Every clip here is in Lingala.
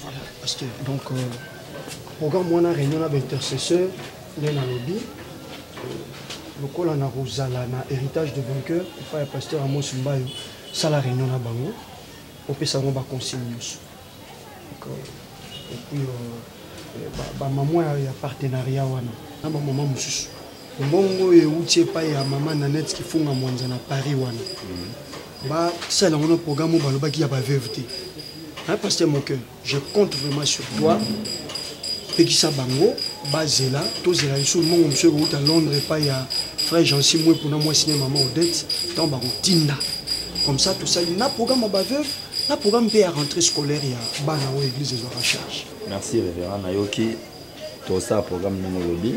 Voilà, pasteur. Donc, euh, programme wana réunion na baintercesseur nde nalobi euh, lokola na kozala na héritage de vainqueur epai ya pasteur amos mbayo sala réunion na bango opesa yango baconsigne nyonso epuis euh, bamamwa ya partenariat wana na bamama mosusu mbongo oyo euti epai ya mama nanete kifunga mwanza na paris wana mhm. basala yango na programme oyo balobaki ya baveuve te hein, pasteur moke je compte vraiment sur toi pekisa bango bazela tozela lisusu mbongo mosusu ekouta londres epai ya frère jansi mwepo na mwasi ne mama odette ntango bakotinda comme ça tosali na programme ya baveuve na programme mpe ya rentrée scolaire ya bana oyo église ezwaka charge merci révérend nayoki tosala programme ndenge olobi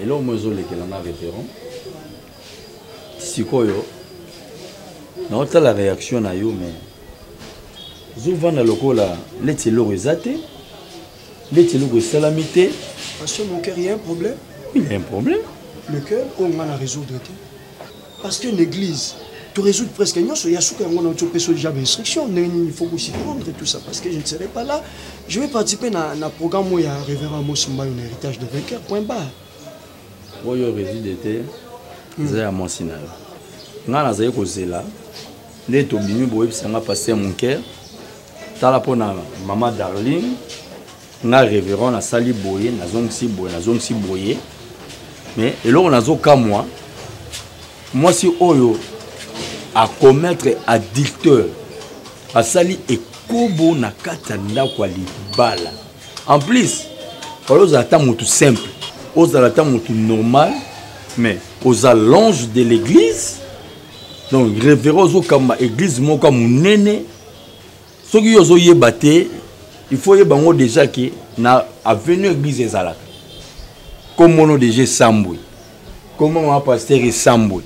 eloko mo ezolekela nga révérend sikoyo naotala réaction na yo mais ozovanda lokola neti eloko eza te neti eloko esalami te parce que mon cœur il y a un problème oui il y a un problème le cœur oyo nga na résoudre te Parce que l'église, tu résous presque nyonso ya suka yango na opesa déjà instruction ndenge nini il faut kosi prendre tout ça parce que je ne serai pas là je vais participer na, na programme oyo ya révérend mosimbayo na héritage de vainqueur point barre oyo résude te hmm. eza ya mwasi na yo ngai nazali kozela nde tobimi boyebisa ngai paster monker tala mpo na mama darling nga reverend nasali boye nazongisi boye nazongisi boye mais eloko nazokamwa mwasi oyo akomettre adulteur asali ekobo na kati ya ndako ya libala en plus fala ozala ata motu simple ozala ata motu normal mais oza l'ange de l'église donc révérend ozokamba église moko ya monene soki yo ozoyeba te il faut yeba yango déjà ke na avenue église ezalaka komono déjà esambwe koma mama paster esambwe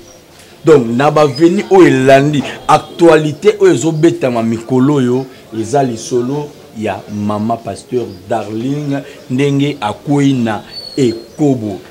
donc na baveni oyo elandi actualité oyo ezobetama mikolo oyo eza lisolo ya mama pasteur darling ndenge akwei na ekobo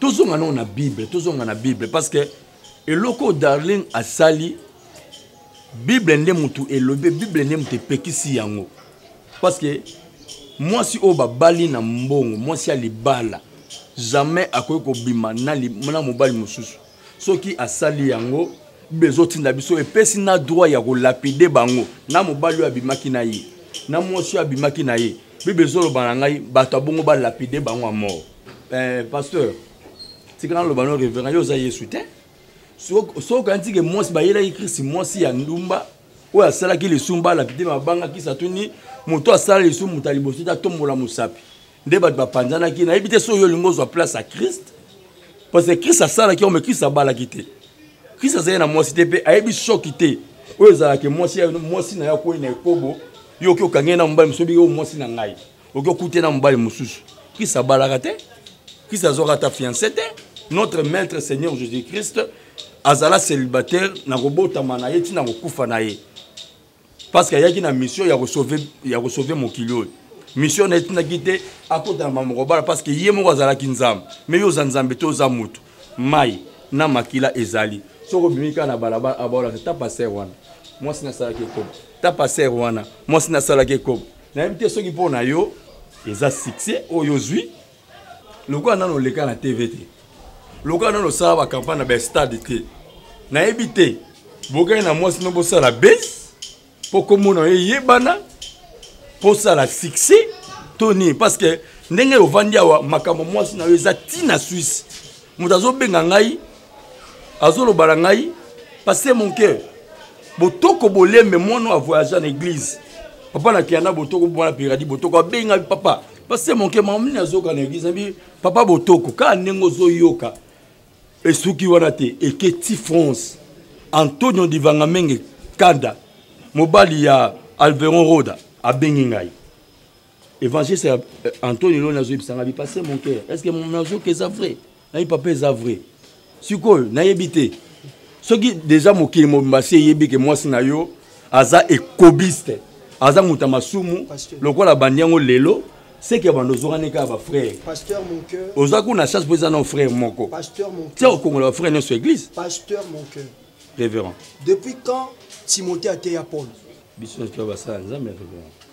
tozonga nao na bible tozonga na bible parce que eloko darling asali bible nde motu elobi bible nde motu epekisi yango parce que mwasi oyo babali na mbongo mwasi ya libala jamais akoki kobima na, na mobali mosusu soki asali yango bible ezotinda biso epesi na droit ya kolapide bango na mobali oyo abimaki na ye na mwasi oyo abimaki na ye bible ezoloba na ngai bato abongo balapide bango ya mort eh, pasteur tika naloba no reverend yo oza yesu te soki okanisi ke mwasi bayelaki krisi mwasi ya ndumba oyo asalaki lisumu balapide mabangaki satuni moto asala lisumu moto ya liboso te atombola mosapi nde bato bapanzanaki nayebi te soki yo olingi ozwa place ya kriste parce que kriste asalaki yango me kriste abalaki te kriste azali na mwasi te mpe ayebi shoki te oyo ezalaka mwasi na yo akwei na ekobo yo oki okangi ye na mobali mosobi yo mwasi na ngai oki okute na mobali mosusu krist abalaka te krist azwaka ata fiance te notre maître seigneur jésus christ azala célibataire na kobotama na ye ntina kokufa na ye parce que ayaki na mission ya kosauve mokili oyo mission na ye etindaki te akota na mamoko bala parce que ye moko azalaki nzambe me yo oza nzambe te oza motu mai na makila ezali soki obimi kaka na balabala abaolaka ta paster wana mwasi nasalaki ekobo ta paster wana mwasi nasalaki ekobo nayebi te soki mpo na yo eza succès oyo ozwi lokola nano oleka na tv te lokola nano osala bacampagne na bastade te nayebi te bokei na mwasi no bosala base mpo komona yo eyebana mpo osala succès to nini parce que ndenge ovandi awa makambo mwasi na yo eza ntina swisse moto azobenga ngai azoloba na ngai pase mon cœur botoko bolembe mwana oyo avoyage na église papa na kiana botoko mwana piradi botoko abenga papa pase mon cœur mamini azoyoka na église nabi papa botoko kaka ndenge ozoyoka esuki wana te eketi france antonio divangamenge kanda mobali ya alveron roda abengi ngai évangéliste ya eh, antoni loni azoyebisanga bipasse mon cœur est ce que nazoka eza vrai nayebi papa eza vrai sikoyo nayebi te soki deja mokili mobimba si eyebi ke mwasi na yo aza ekobiste aza moto ya masumu lokola bandi yango lelo seke ya bando ozokani kaka bafrère oza kuna chance mpo eza na frère moko tia okongola bafrère nyonso église révérend depuis quand timothée ateya paul biso nyonso toya basala nzambe ya révérend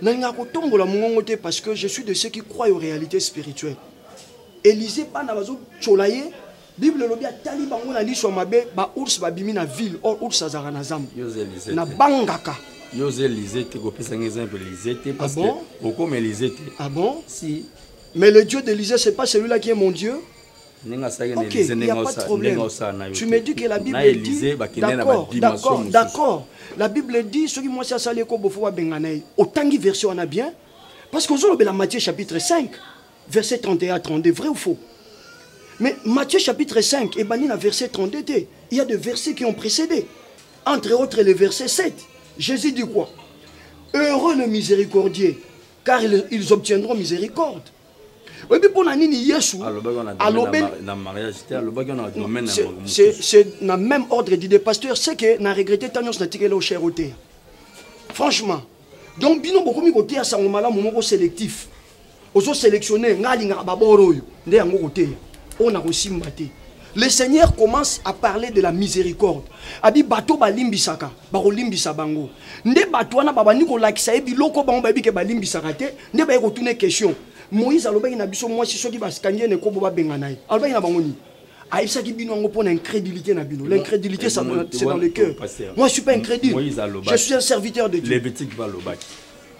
nalingaka kotombola mongongo te parce que je suis de ceux qui croient aux réalités spirituelles élysée bana bazotyola ye bible elobi atali bango na liso ya mabe baours babimi na ville or ours azalaka na zamba nabangaka yo oza élysée te kopesa ngai exemple élysée te ah parce que okoma élysée te ah bon si mais le dieu d'élysée c'est pas celui-là qui est mon dieu ndenge asalaki na elize ndenge osala na yo na elize bakende na badimension mosusu d'accord la bible dit soki mwasi asali eko bofo babengana ye otangi version wana bien parce que ozolobela matthieu chapitre 5 verset 31 32 vrai ou faux mais matthieu chapitre 5 ebandi na verset 32 te il y a des versets qui ont précédé entre autres le verset 7 jésus dit quoi heureux le miséricordier car ils obtiendront miséricorde oyebi mpo na nini yesu c'est na même ordre d'idée pasteur c'est que na regrette ta nyonso natikeli o cher oteya franchement donc bino bokomi koteya sango malamu moko sélectif ozo sélectionne ngai alingaka baboro oyo nde yango koteya oyo nakosimba te Le Seigneur commence à parler de la miséricorde. Abi bato balimbisaka, bakolimbisa bango. Nde bato wana babandi kolakisa ye biloko bango bayebi ke balimbisaka te, nde baye kotuna ye question. Moïse alobaki na biso mwasi soki basikangi ye na ekobo babengana ye. Alobaki na bango nini? ayebisaki bino yango mpo na incrédulité na bino l'incrédulité c'est dans le cœur moi je suis pas incrédule je suis un serviteur de Dieu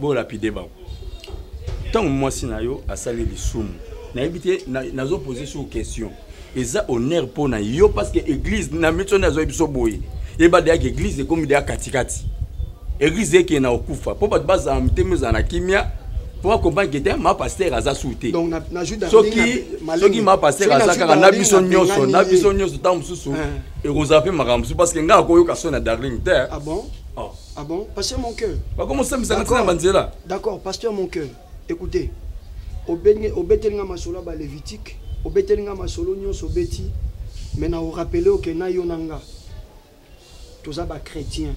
Bo lapide bango. Tango mwasi na yo asali lisumu. Nayebi te nazo poser sur question. Eza honneur mpo na yo parce que église na miso na azoyebi so boye. Yeba deya ke église ekomi deya katikati. Église eke na okufa mpo bato bazala mitema ezala na kimia mpo akomprendre ke te ma pasteur aza su te soki soki ma pasteur aza kaka na biso nyonso na biso nyonso ntango mosusu ekozala mpe makambo mosusu parce que ngai akoyoka so na darling te ah Ah bon, pasteur mon cœur. Bakoma sambisa na tina banzela. D'accord, pasteur mon cœur. Écoutez. Obenge obeteli nga masolo ba Lévitique, obeteli nga masolo nyonso obeti, mais na rappeler au na yo na nga. Toza ba chrétiens,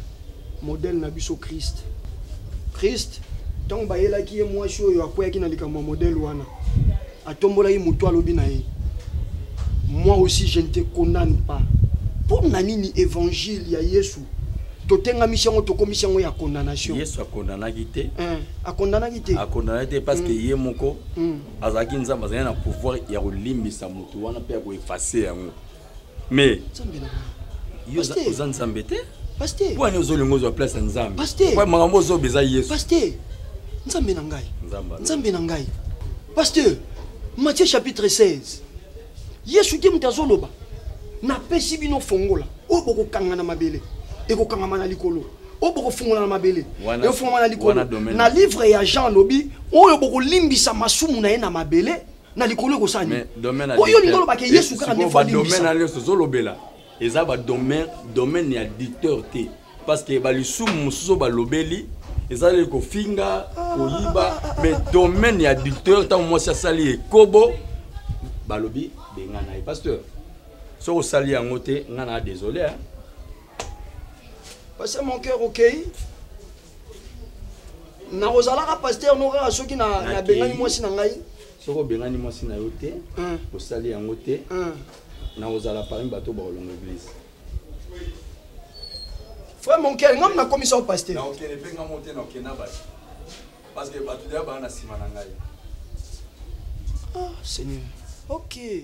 modèle na biso Christ. Christ ntango bayelaki ye mwasi oyo akweyaki na likambo ya modèle wana atombola ye moto alobi na ye moi aussi je ne te condamne pas mpo na nini évangile ya yesu totengamisi yango tokomisi yango ya condamnation yesu akondanaki te eh, akondanaki te akondanaki te parce que mm. ye moko mm. azalaki nzambe azalaki na pouvoir ya kolimbisa moto wana mpe ya koefase yango mais yo oza nzambe te mpo ani ozolinga ozwa place ya nzambe makambo ozoba eza yesu nzambe na ngai nzambe na ngai pasteur matthieu chapitre 16 yesu te moto azoloba napesi bino fongola oyo bokokanga na mabele ekokangama na likolo oyo bokofungola na mabele ekofungama na likolo na livre ya jean alobi oyo bokolimbisa masumu na ye na mabele na likolo ekosala nini po yo olingi olobake yesu kaka nde fodimisa na nyonso ozolobela eza badomaine domaine ya dicteur te parce que balisumu mosusu oyo balobeli ezaleli kofinga koyiba mais domaine ya dicteur ntango mwasi asali ekobo balobi bengana ye pasteur soki osali yango te ngai na désolé hein. Parce que mon cœur au okay. nakozalaka pasteur moko kaka soki nabengani mwasi na ngai soki obengani mwasi na yo te osali yango te nakozala parmi bato bakolonga eglise frère mon cœur ngam nakomisa yo pasteur nakokende mpe ngamo te nakokende na bato parce que bato deya baa na nsima na ngai ah seigneur ok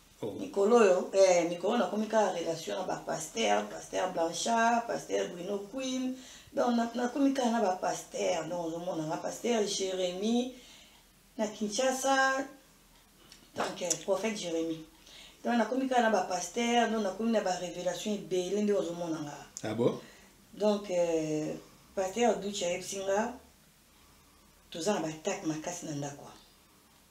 Oh. mikolo oyo eh, mikolo nakomi kaka relation na bapaster paster blanchard paster bruno queen donc nakomi kaka na bapaster donc ozomona nga paster jérémi na kinshasa donc eh, prophète jérémi donc nakomi kaka na bapaster donc nakomi na barévélation ebele nde ozomona nga ah bon? donc euh, paster duce ayebisi nga toza na batake makasi na ndako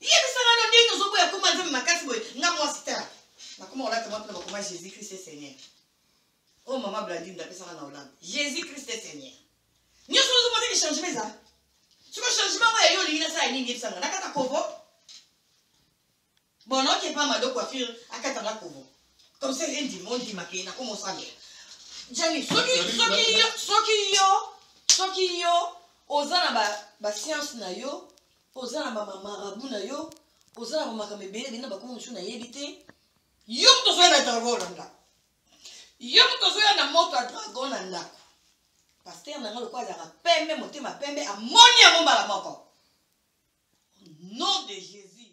yebisa nano ndenge tozoboya koma nzambe makasi boye nga mwasi tala nakoma olata mwa mpona bakoma jésus christ e seigneur oyo oh, mama blandine ndapesaka na olanda jésus christ e seigneur nyonso ozomonaki changement eza soki changement oyo yayo olingi nasala nini yebisanga nakata kovo bon oke pa mado coiffure akata nga kovo comme ça rien dimo ndimake nakoma osalela jani soki soki yo soki yo soki yo oza na ba, ba science na yo oza na bamamarabu na yo oza na bamakambo ebele ebele na bakomi mosusu nayebi te yo moto ozoya na dragon na ndako yo moto ozoya na moto ya dragon na ndako paster na nga lokola azalaka pembe motema pembe amoni yango mbala moko au nom de jésus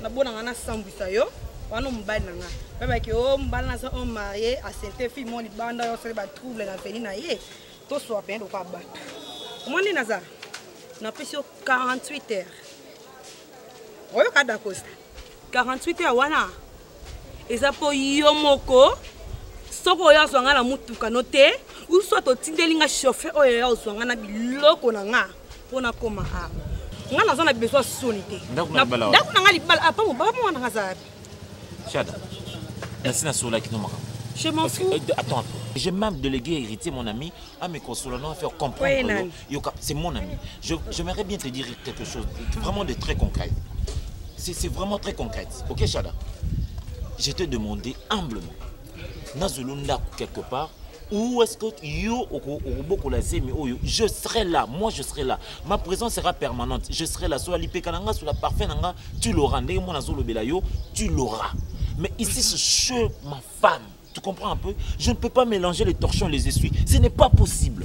nabona nga nasambwisa yo wana mobali na nga babaki o oh, mobali naza o oh, marie asente fille mo libanda yo osali batrouble na veni na ye toswa pene lokola bato omwa nde naza napesi yo 48 heures oyoka dakosta 48 heures wana eza mpo yo moko soki oyo azwa nga na motuka no te uswa totindeli nga chauffer oyo ya ozwa nga na biloko na nga mpo nakoma a ngai naza na besoin soni te ndako na ngai libala apa mobaba mwana ngai aza wapi shada nasi nasolaki no makambo Je m'en fous. Euh, attends, j'ai même délégué héritier, mon ami, à mes consolants, à faire comprendre. Oui, c'est mon ami. J'aimerais bien te dire quelque chose, vraiment de très concret. C'est vraiment très concret. Ok, Shada Je t'ai demandé humblement nazwelo ndako quelque part ou est-ce que yo okobokola zemi oyo je serai là moi je serai là ma présence sera permanente je serai là sola lipeka na nga sola parfum na nga tu l'auras ndenge mwana azolobela yo tu l'auras mais ici c'est chez ma femme tu comprends un peu je ne peux pas mélanger les torchons les essuies ce n'est pas possible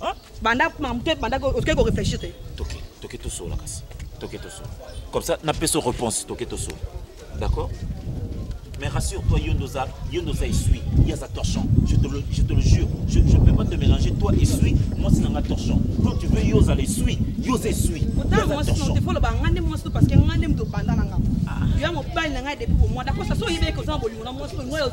Hein? banda makambo te banda otikaki koreflechir te toke toke tosola kasi toke tosola comme ça napesa réponse toke tosola d'accord mais rassure-toi yondo oza yondo oza esui ye aza torchon je te le, je te le jure je, je peux pas te mélanger toi esui mwasi na nga torchon quand tu veux yo ozala esui yo oza esui otaamoasifoloba nga nde mwasi parce que nga nde moto obanda na nga yo ya mobali na ngai depuis bomwanda kosa so oyebeki oza na bolingo na mwasi oyo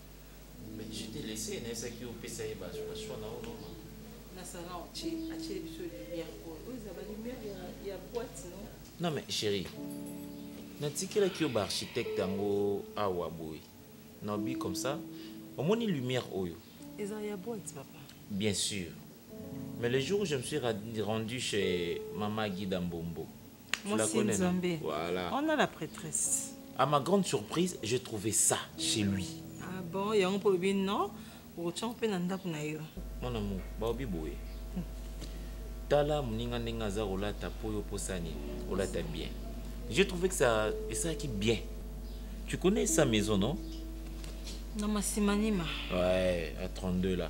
Mais je t'ai laissé, na esa ki opesa ye ba ba choix na ono. Na sanga o che, a che biso lumière ko. O za ba lumière ya ya boîte non. Non mais chérie. Na tikela ki ba architecte yango awa boy. Na bi comme ça. Omoni lumière oyo. Eza ya boîte papa. Bien sûr. Mais le jour où je me suis rendu chez Mama Guida Mbombo, Mwasi Nzambe. Voilà. On a la prêtresse. À ma grande surprise, j'ai trouvé ça chez lui. Ah bon, yango pour le non. Okotyanga mpe na ndako na yo. Mon amour, baobi boye. Tala moninga ndenge aza kolata mpo yo mposa nini olata bien. J'ai trouvé que ça esalaki bien. Tu connais sa maison, non? Na Masimanima. Ouais, à 32 là.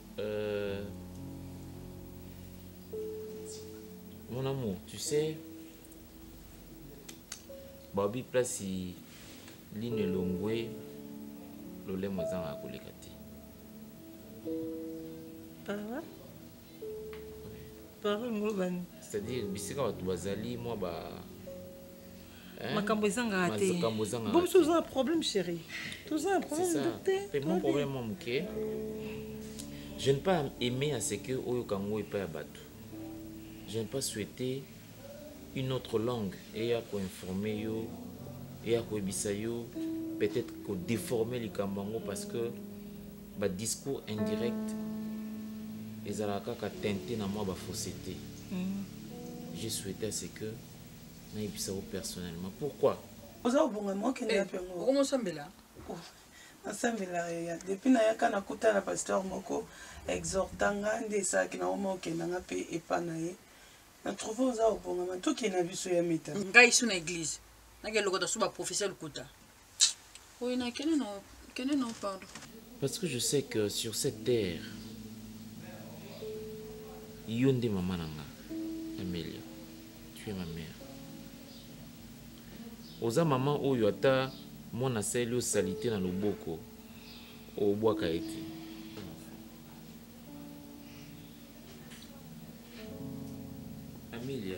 Euh, mon amour, tu sais, Bobby place ligne elongwe lolemo ezanga koleka te ah parole ngolobani c'est-à-dire bisika bato bazali mwa ba Hein? makambo ezangaka te bo biso toza na problème chéri toza na problème te mon problème mwa moke je ne pas aimé à ce que oyoka yango epai ya bato je ne pas souhaité une autre langue eya koinforme yo eya koyebisa yo peut-être kodéforme likambo yango parce que badiscours indirect ezalaka kaka tente na mwa bafausse te mm. je souhaité à ce que nayebisa yo personnellement pourquoi oza kobonga mokende yape eh, ngo okomosambela oh, nasambela yo ya depuis nayaka nakutana pasteur moko exhorta nga nde esalaki na oma okenda nga mpe epa na ye na trouve oza kobongama tokende na biso ya meta ngai su na église nake lokota su baprofesseur lokuta Oui, na kende na kende na pardon. Parce que je sais que sur cette terre yo nde mama na nga Amelia, tu es ma mère. Oza mama oyo ata mwana asali yo salite na loboko obwaka ye te. Amelia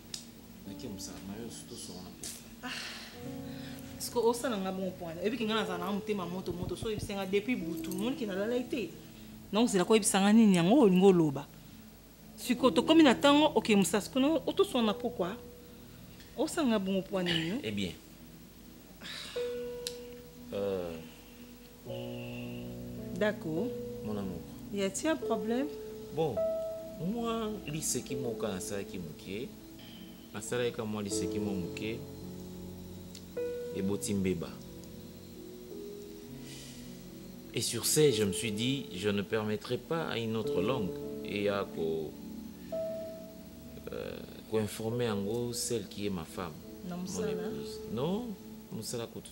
nake mosala mayo tosonga na pesa ah. siko osala nga bongo mpo wana oyebi kinga nazala nanga motema moto moto so oyebisa nga depuis butu moni ke nalalai te donc zela koyebisa nga nini yango olingi oloba siko tokomi na ntango oke mosala siko nango otosona na pokwa osala nga bongo mpo wana nini eh bien euh, D'accord. Mon amour. Y a-t-il un problème? Bon, moi, liseki moka nasalaki moke nasalaki ka mwa liseki mwa moke eboti mbeba et sur ce je me suis dit je ne permettrai pas à une autre langue et à ko euh, ko informer yango celle qui est ma femme na mon épouse non mosala kutu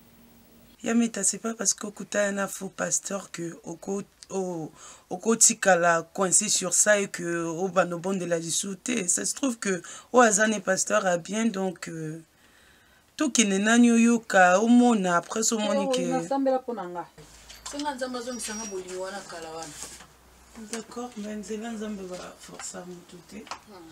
Ya meta c'est pas parce que okutana na faux pasteur que oko okotikala oh, coincé sur ça et que obanda oh, obondela lisusu te ça se trouve que oyo aza ne pasteur ya bien donc euh, tokende nani oyoka omona après so omoni ke nasambela mpo na nga senga nzambe azongisanga bolingi wana kala wana d'accord mais nzela nzambe baforsa motu te hmm.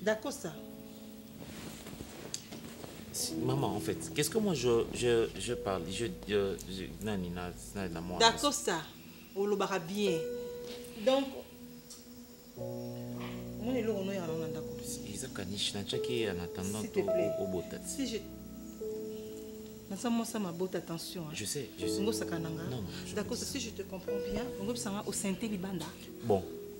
Dacosta. Maman, en fait, qu'est-ce que moi je, je, je parle Je. je, je nani, na, na, na, moi. Dacosta, olobaka bien. Donc. Mon elo, on est en train de eza kanishi natyaki en attendant obota si je naza mwasi ya mabota attention ngosaka na nga dakosa si je te comprends bien ongobisanga osente libanda bon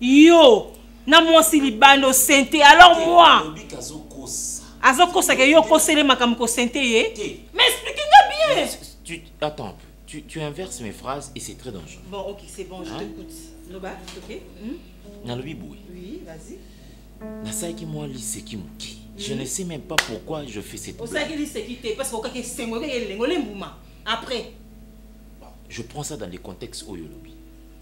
yo na mwasi libanda osente alors moi azokosaka yo okosele makambo kosente ye mais explike nga bien tu, attends tu, tu inverses mes phrases et c'est très dangereux bon ok c'est bon je hein? t'écoute loba ok hmm? nalobi boye oui vas-y nasalaki mwa liseki moke je ne sais même pas pourquoi je fais cette osalaki liseki te parce que okaki esengo okaki elengo lembuma après je prends ça dans les contextes oyo olobi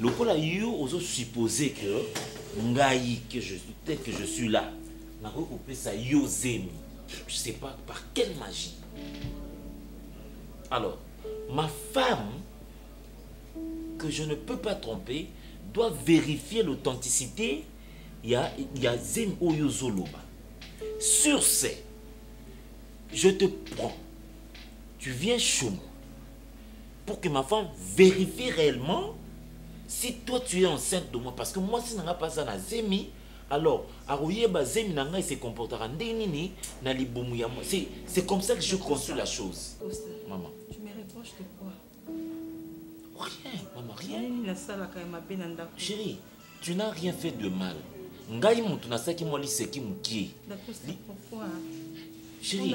lokola yo ozo suppose que ngai que je tel que je suis là nakoki kopesa yo zemi je sais pas par quelle magie alors ma femme que je ne peux pas tromper doit vérifier l'authenticité ya, ya zemi oyo ozoloba sur ce je te prends tu viens chez moi pour que ma femme vérifie réellement si toi tu es enceinte de moi parce que moi si nanga paza na zemi alors akoyeba zemi na ngai se comportaka ndenge nini na libumu ya moi c'est comme ça que je conçois la chose maman tu me reproches de quoi rien maman rien nasalaka ya mabe na ndako chérie tu n'as rien fait de mal ngai moto nasalaki mwa liseki mokie chérie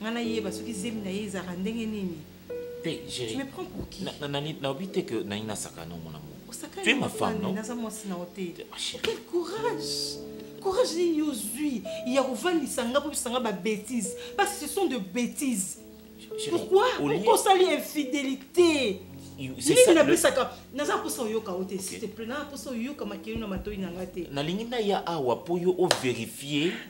nga nayeba soki zemi na ye ezalaka ndenge nini te tu me prends pour qui naobi te que nani nasakana mon amour tu es ma femme non naza mwasi na yo te ah, quel courage courage nini ozwi ya kovandisa nga mpo bisanga babétise parce que ce sont de bétise pourquoi pourquoi osali infidélité nini napesaka naza mposa oyoka yo te s'il te plaît naza mposa oyoka makeli na matoi na nga te nalingi naya awa mpo yo overifie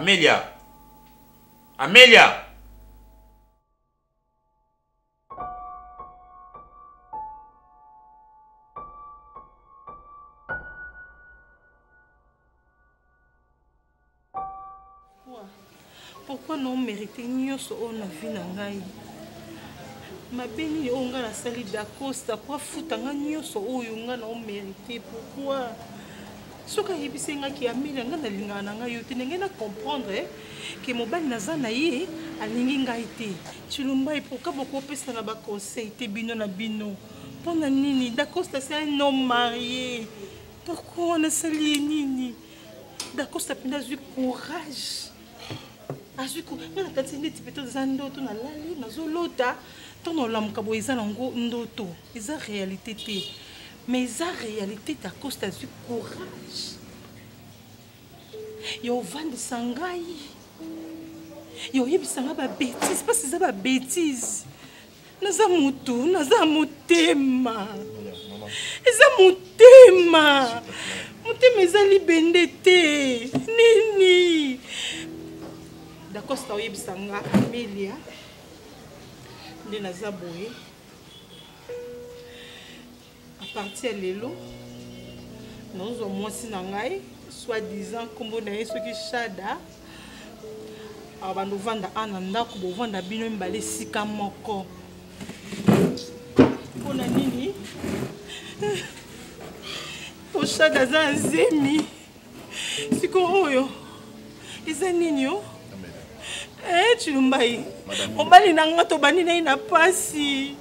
Amelia. Amelia. pourkui na omerite nyonso oyo na vi na ngai mabe nini oyo ngai nasali dacosta po afuta ngai nyonso oyo ngai na omerite pourkui soki ayebisi ngai ke ameli ngai nalingaka na ngai yo te ndenge na comprendre ke mobali naza na ye alingi ngai te Chilumba et pourquoi beaucoup opesa na ba conseil te bino na bino mpo na nini dacosta se un homme marie pourquoi wana asali ye nini dacosta mpenza azwi courage azwi nga nakanisi neti mpe toza ndoto nalali nazolota ntango olamuka boye eza nango ndoto eza réalité te mais eza réalité dacosta azwi courage yo ovandisa ngai yo oyebisa ngai babétise mpasi eza babétise naza motu naza motema eza motema motema eza libende te nini dacosta oyebisa nga amelia nde naza boye à partir ya lelo nazozwa mwasi na ngai soit disant nkombo na ye soki shada abanda ah, ovanda a na ndako bovanda bino mibale esika moko mpo na nini poshada aza azemi siko oyo eza nini o eh, cilumbai mobali na nga tobandi na ye na mpasi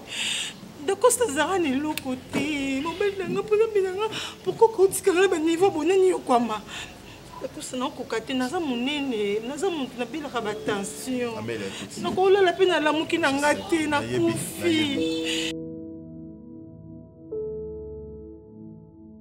dakosta azalaka na eloko te mobali na nga mpona mbi na nga pourkoi kotikanga na baniveau bonani yokwama nakosa nakokoka te naza monene naza moto nabelaka batension nakolala mpe nalamuki na nga te nakufi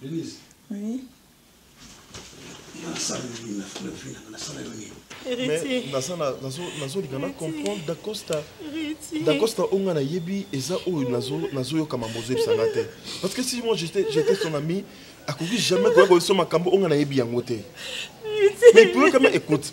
Denise. Oui. nazolika na comprendre dacosta dacosta oyo nga nayebi eza oyo nazoyoka mambo ozoyebisanga te parce que si moi j'étais son ami akoki jamais koya koyebiso makambo oyo nga nayebi yango te mais pouvez quand même écoute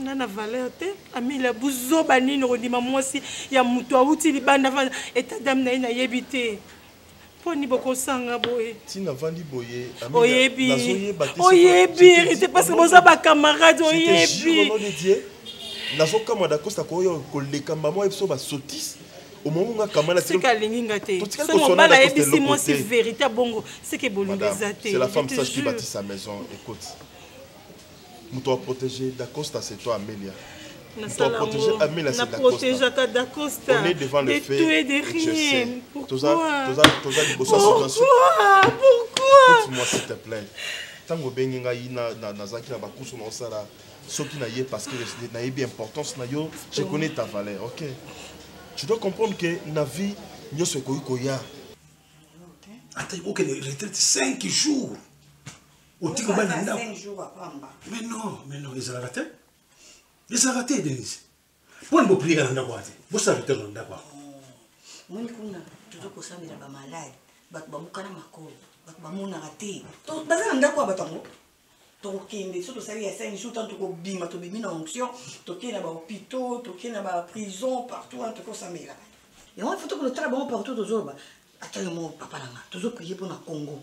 nga na valeur te amila buzoba nini okondima mwasi ya moto awuti libanda vanda etat dame na ye nayebi te poni bokosanga boye tina vandi boye oyebi oyebi ete parce que boza bacamarade oyebi nazokamwa dakosta koya koleka mbama oyebi so basotise omongo nga kamala seke alingi nga te so mobala ayebisi mwasi verité bongo seke bolingo eza te c'est la femme sage qui bâtit sa maison écoute moto aprotege dacosta c'est toi amelia naprotegeaka dacosta de tout et de rien pourquoi pourquoi s'il te plaît ntango obengi ngai nazalaki na bakusu na osala soki na ye parce que nayebi importance na yo je connais ta valeur ok tu dois comprendre que na vie nyonso ekoki koya ata okende retraite 5 jours oti kobala na ndako mais non mais non ezalaka te ezalaka te denise mpona boprieka na ndako wana te bosala reteur na ndako wana moni kuna tozo kosambela bamalade bato bamokana makolo bato bamonaka te baza na ndako ya bato yango tokokende so tosali ya cinq jour ntango tokobima tobimi na onction tokei na bahôpitaux tokei na baprison partout wana tokosamela yango ifo tokotala bango partout tozoloba ata yo moko papa na nga tozoprie mpo na congo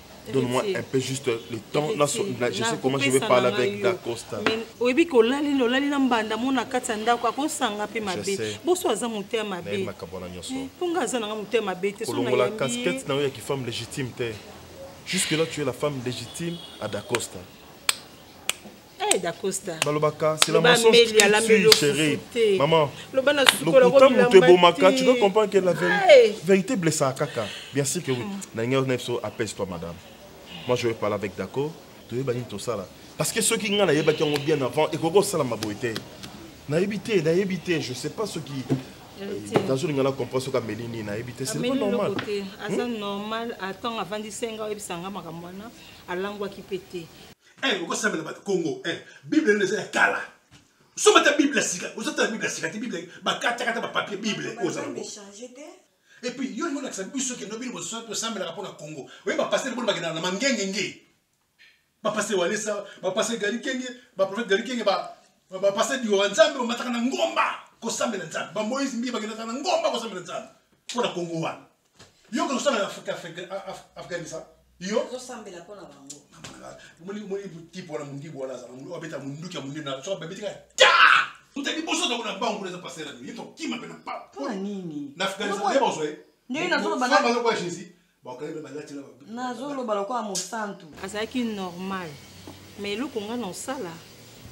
Donne-moi un peu juste le temps. Là, là, je sais comment je vais parler avec Dacosta. oyebi ke olali nde olali na mbanda mona kati ya ndako akosanga mpe mabe boso aza moto ya mabe eh, mpo nga aza nanga moto ya mabe te kolongola casquette na yo ya kifemme légitime te jusque là tu es la femme légitime à Dacosta Eh, balobaka c'est la mensonge qui tue chérie maman lokuta moto ebomaka tu dois comprendre que la vérité blessaka kaka bien sûr que oui hmm. na ngai na biso apese toi madame moi je vais parler avec daco toyeba nini tosala parce que soki ngai nayebaki yango bien avant ekoki kosalama boye te nayebi te nayebi te je sais pas soki nazolinga na comprendre soki ameli nini nayebi te c'est pas normal aza hmm? normal atango avandisi ngai oyebisa ngai makambo wana alangwaki mpe te eh okosambela bato kongo eh bible nde eza ya kala soma ta bible ya sika ozotala bible ya sika te bible bakatakata bapapier bible oza nango et puis yo lingo lakisa biso kendo bino bososo tosambelaka mpo na congo oye bapasele boni bakendaka na mangengenge bapase walesa bapase galikenge baprofete galikenge bapase diowa nzambe bamataka na ngomba kosambela nzambe bamoise mbi bakendaka na ngomba kosambela nzambe mpo na congo wana yo kozosala na afghanistan yozosambela mpo na bango tipe wana mondibu wana azala abeta monduki ya monene soki babeti kaka ta uta liboso toko na bangu na eza pasela yo tokima mpe na papa nini na afghanistan ye bozwa ye ndenge nazoloba jésus nazoloba lokola mosantu azalaki normal mais eloko ngai na osala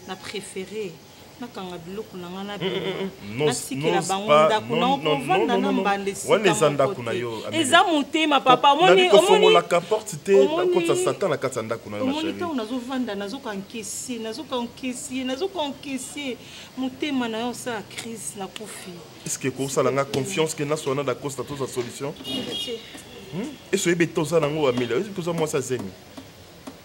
na prefere nakanga biloko na ngai nabimasikela bango ndako na okovanda na mbanda esikawana eza ndako na yo eza motema papa omonilaka porte te okotisa satan na kati ya ndako na yo omoni ntango nazovanda nazokankese nazokankese nazokankese motema na yo osala crise na kofi eske ekosala ngai confiance ke nasoana da costa toza solution hmm? eso oyebi ete oza nango ameliore eske oza mwasi azemi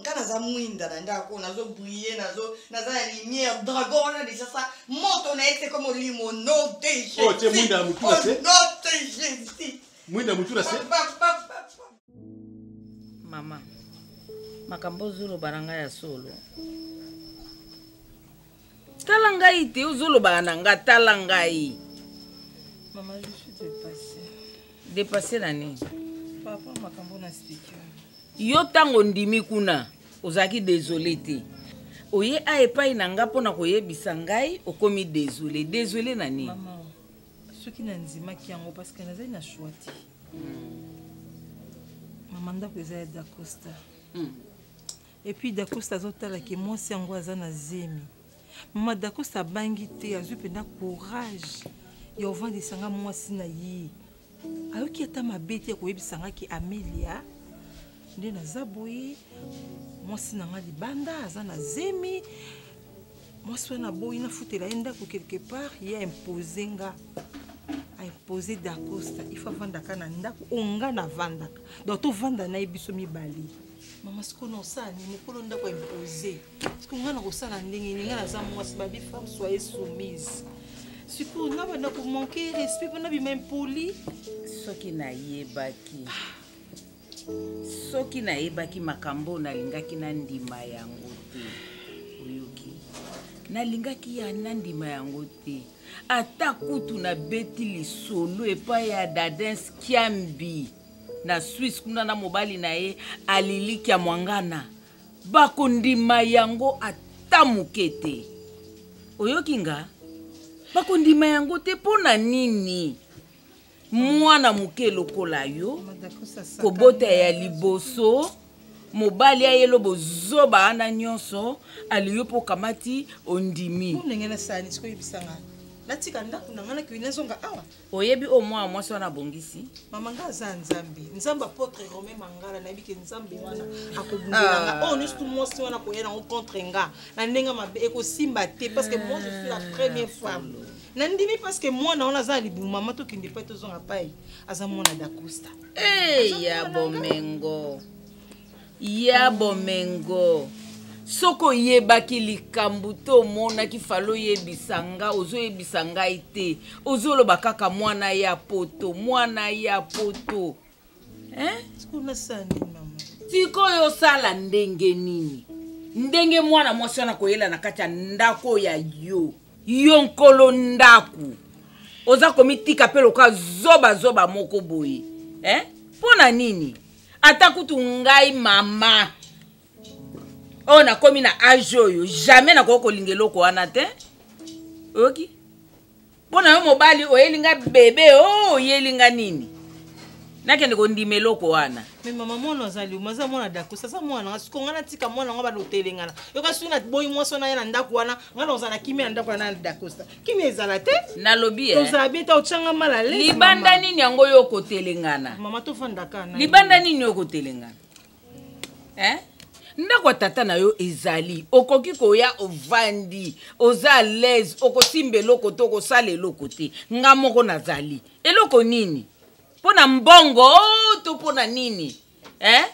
nga naza mwinda na ndako oyo nazo brille nazo naza na lumière dragon wana deja sa moto na ye te ko molimo no de jésus oh, te mwinda mutu na se oh, no de jésus mwinda mutu na se mama makambo ozoloba na ngai ya solo tala ngai te ozolobaka na nga tala ngai depasse na nini yo ntango ondimi kuna ozalaki desole te oye a epai na nga mpo na koyebisa ngai okomi desole desole na nini soki nandimaki yango parceke nazali na shoi te hmm. mama ndako eza ya dacosta hmm. Et puis Dacosta azotala ke mwasi yango aza na zemi. Mama Dacosta abangi te, azwi mpenza courage ya ovandisa nga mwasi na ye. Ayoki ata mabe te ya koyebisa nga ke Amelia nde naza boye, mwasi na nga libanda aza na zemi, mwasi wana aboyi nafutela ye ndako quelque part, ye impose nga impose Dacosta, il faut avandaka na ndako oyo nga navandaka, donc tovanda na ye biso mibale. mama sikoyo na osala nini mokolo ndako impose sikoyo ngai nakosala ndenge nini ngai naza mwasi babi femme soye soumise sikoyo nga banda komanke respect mpona bima impoli soki nayebaki soki nayebaki makambo oyo nalingaki nandima yango te oyoki nalingaki ya nandima yango te ata kutu nabeti lisolo epai ya dadens kiambi na swisse kuna na mobali na ye alilikia mwangana bakondima yango ata moke te oyoki nga bakondima yango te mpo na nini mwana moke lokola yo kobota ya liboso mobali ayelo bozoba ana nyonso aliyo mpo okamati ondimi natika ndako na ngai nakei nazonga awa oyebi oyo mwana mwasi wana abongisi mama nga aza nzambe nzambe apotre romain mangala nayebi ke nzambe wana akobundela ah. oyo oh, nyonso tu mwasi wana koya nango contre nga na ndenge mabe ekosimba te parce que moi je suis la première femme nandimi parce que mwana wana aza na libumu mama tokende pai tozonga pai aza mwana dacosta eya eh, bomengo ya bomengo soki oyebaki likambo te omonaki fali oyebisa nga ozoyebisa ngai te ozoloba kaka mwana ya poto mwana ya poto sikoyo osala ndenge nini ndenge mwana mwasi wana koyela na kati ya ndako ya yo yo nkolo ndako oza komitika mpe lokola zobazoba moko boye eh? mpo na nini ata kutu ngai mama oyo oh, nakomi na age oyo jamais nakoki kolinga eloko wana te oyoki mpo na yo mobali oyeli nga bebe o oh, oyeli nga nini nakende kondima eloko wana me mama mwana azali oma aza mwana dakosa aza mwana nga siko ngai natika mwana yango balotele ngana yoka soki naboyi mwasi wana ye na ndako wana ngai na ozala kimia na ndako wana na dakosa kimia ezala te nalobi eh. tozala bien ta otyanga mal à l'aise libanda nini yango yo okotelengana mama tofandaka libanda nini yo okotelengana eh? ndako ya tata na yo ezali okoki koya ovandi oza alaise okosimba eloko te okosala eloko te nga moko nazali eloko nini mpo na mbongo oh, to mpo na nini eh?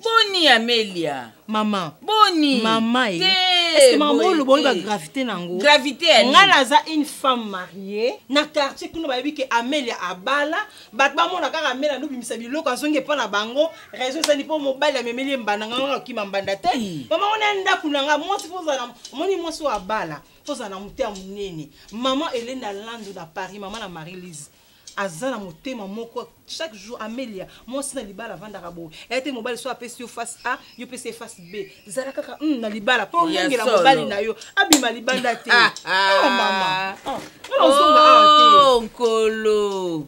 boni amelia mama boni mama ye eh. est-ce que mama oyo loboni ba gravité nango gravité ya ngai naza une femme mariée na quartier kuna bayebi ke amelia abala bato bamona kaka amelia nobimisa biloko azongi epa na bango raison ezali mpo mobali amemeli ye mbanda ngai ngai okima mbanda te mama ngo na ndako na ngai mwasi mpo ozala omoni mwasi oyo abala mpo ozala na moto ya monene mama elenda landu na paris mama na marie lise aza na motema moko chaque jour amelia mwasi na libala avandaka boye eya te mobali so apesi yo face a yo pesi ye face b zala kaka mm, na libala mpo olengela mobali na yo abima libanda te ah, ah. oh, mama oh, ah, ozonga awa te oh, nkolo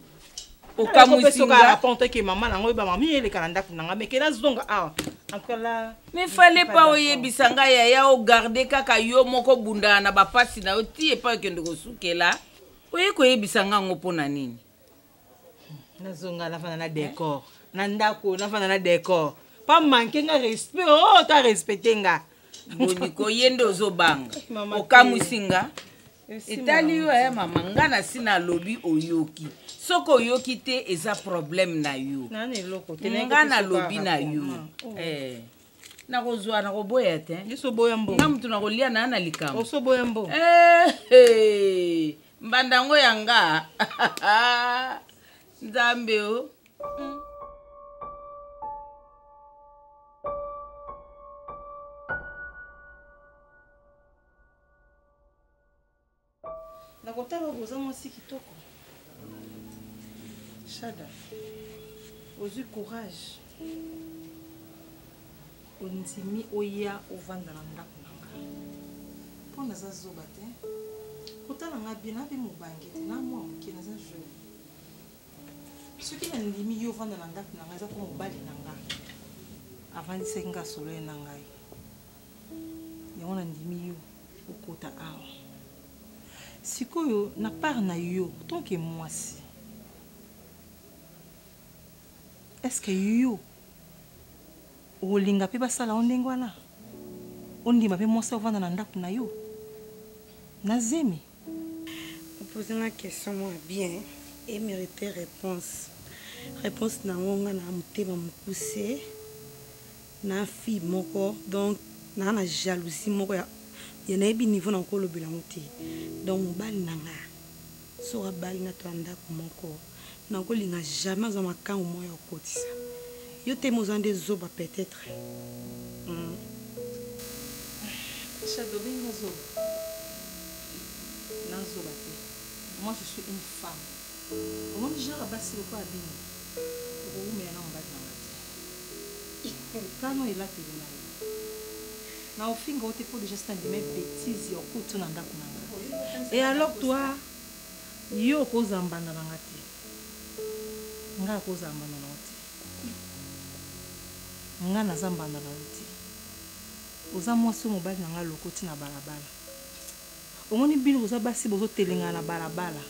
okamwisingaapenteke mama nango oyeba mama eleka na ndako na nga meke nazonga awa ankala mi fale pa oyebisa ngai yaya ogarde kaka yo moko bundana na bapasi na yo ti epai okende kosukela oye koyebisa nga yango mpo na nini nazonga nafanda na decor na ndako nafanda na decor pa manke nga respect o oh, ta respecte nga boniko ye nde ozobanga okamwisi nga etali yo ya eh, mama nga na si nalobi oyoki soki oyoki te eza problème na yo nga nalobi na yo eh. nakozwa nakoboya te nga motu nakolia na na likambo eh, eh. mbanda yango ya nga nzambe o oh. nakotala oboza mwasi kitoko shada ozwi courage ondimi oya ovanda na ndako na ngai mpo naza zoba te kotala ngai bien nabe mobange te na mwa moke naza jeune soki nandimi yo ovanda na ndako na ngai eza mpo mobali na ngai avandisaki ngai solo ye na ngai yango nandimi yo okota awa sikoyo na part na yo tant que mwasi est ce que yo okolinga mpe basala yo ndenge wana ondima mpe mwasi ovanda na ndako na yo na zemi opose nga question mwa bien emerite réponse réponse na yango nga na motema mokuse na fille moko donc na na jalousie moko ya ya nayebi niveau na ko lobela ngo te donc mobali na nga soki abali nga to ndako moko na ko linga jamais aza makangu moko ya kokotisa yo te moza nde zoba peut-être mm. Shadow benga zoba na zoba te moi je suis une femme omoni genre basi lokola bino okoumela na mobali na nga te Tala elateli na yo. Na ofinga yo te mpo deja si nandima betize ya okutu na ndako na nga. E alors toi, yo okozala mbanda na nga te. Nga akozala mbanda na yo te. Nga naza mbanda na yo te. Oza mwasi oyo mobali na nga alokoti na balabala. Omoni bino boza basi bozo telengana na balabala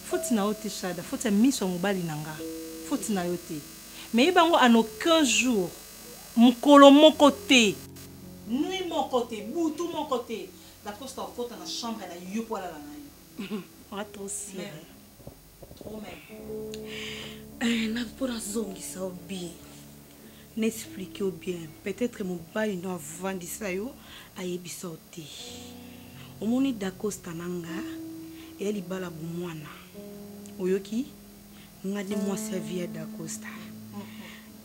faute na yo te shada faute ya miso ya mobali na nga faute na yo te mais yeba yango en aucun jour mukolo moko te nuit moko te butu moko te dacosta okota na chambre na yo po alala na yo. Oza trop sire. Eh, na mpo nazongisa yo bien na explike yo bien peut-être mobali no avandisa yo ayebisa yo te omoni dacosta na nga eya libala bomwana oyoki nga nde mwasi ya vie ya dacosta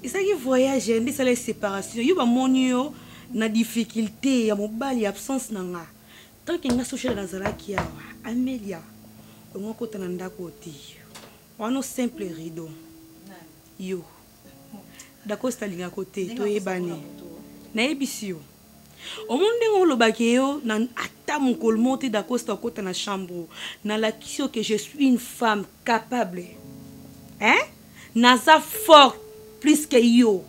ezalaki voyage nde esalaki séparation yo bamoni yo na difficulté ya mobali ya absence na nga tant que nga social nazalaki awa amelia ongo kota na ndako oti wano simple rideau yo dacosta alingako te toyebani nayebisi yo omoni ndenge olobaki yo na ata mokolo moko te dacosta okota na chambre nalakisi yo ke je suis une femme capable hein naza forte plus que yo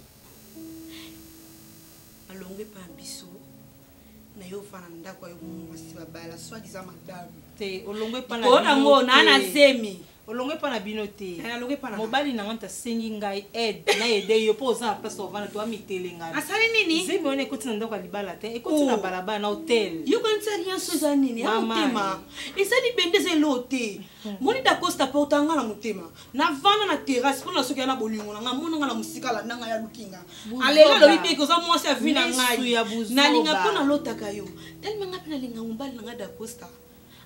mais yo fana ndako ayo mwasi babala soit disant madame te olongwe pa na kona ngo na na zemi olongwe pa na bino te eh, alongwe pa na mobali na nganta sengi ngai aide na aide yo po oza na place ovana to amitele ngai asali nini zemi wana ekoti na ndako ya libala te ekoti na oh. balabala na hotel yo kanisa rien so eza nini ya motema ezali bende eza eloo te moni dacosta porta nga na motema navanda na terrasse mpo na soki ya na bolingo na ngai mona nga na mosika alanda ngai aluki nga alela alobi te koza mwasi ya vi na ngai nalinga mpo nalotaka yo telema ngai mpe nalinga mobali na ngai dacosta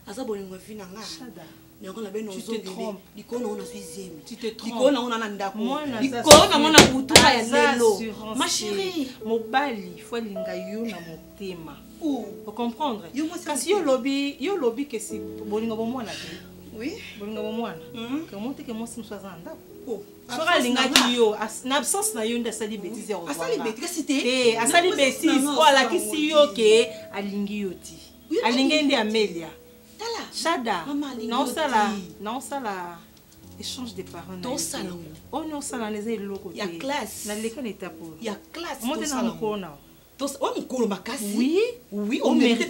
aza bolingo ya vi na ngai yango na bino ozongeli likolo nango nazwi zemi likolo nango na na ndako likolo nango na butuka ya lelo ma chérie mobali fo alinga yo na motema o comprendre kasi yo lobi yo lobi ke si bolingo bomwana te oui bolingo bomwana hmm. ke omonte ke mwasi mosusu aza na ndako oh, soki alingaki yo na absence na yo nde asali betise ya asali betise eh, po alakisi yo ke alingi yo ti alingi nde amelia shada naosala naosala échange de parents tosala oyo naosala na eza eloko te naleka na etape oyo omotena mokolo na oyo mokolo makasi yo nde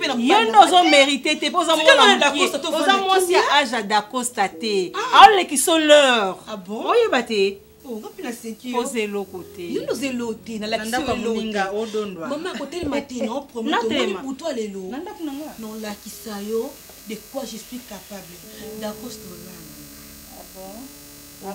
ozo merite te mpo oza mwanaaoza mwasi ya age ya dacosta te ah. aolekisa l'heure ah oyeba te oza eloko tenalakisa yo de quoi je suis capable dacosta olanga ah